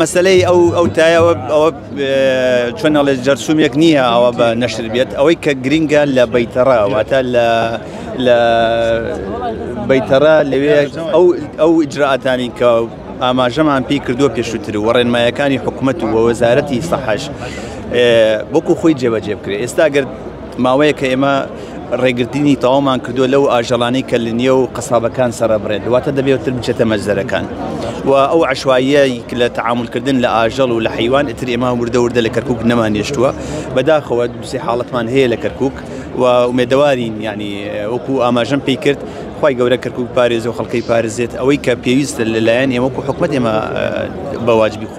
مەسەلەی ئەو ئەو تایە ئەوە ئەوە چۆن ئەڵێ جەرسومێک نییە ئەوە بە نەشر بێت ئەوەی کە گرینگە لە بەیتەڕە واتە لە لە بەیتەڕە لەوێ ئەو ئەو ئیجراتانی کە ئاماژەمان پێی کردو پێشووتر و ڕێنمایەکانی حکوومەت و وەزارەتی سەحش بۆکو خۆی جێبەجێ بکرێت ئێستا گەر ماوەیەکە ئێمە ڕێگرتنی تەواومان کردووە لەو ئاژەڵانەی کە لە نێو قەسابەکان سەرەبڕێت دواتە دەبێتتر بچێتە مەجزەرەکان و ئەو عشواییەی لە تعاملکردن لە ئاژەڵ و لە حیوان ئتر ئێمە وردە وردە لە کەرکک نەمان نێشتووە بەداخەوە دوسێ حاڵەتمان هەیە لە کەرکک و ئومێدەوارین ینی وەکو ئاماژەم پێی کرد خی گەورە کەرکک پارێز و خەڵکەی پارێزێت ئەوەی کە پێویستە لەلایەن ئێوەکو حکومت ئێمە بەواجبی خۆ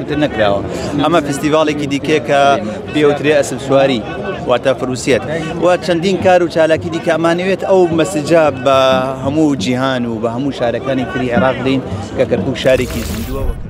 تر نەکراوە ئەمە فستیڤاڵێکی دیکە کە پێوترێ ئەسل سواری واتە فروسیەت و چەندین کار و چالاکی دیکە ئەمانەوێت ئەو مەسجا بە هەموو جیهان و بە هەموو شارەکانی تری عێراق دەین کە کەرکک شارێکی زیندووە وەکە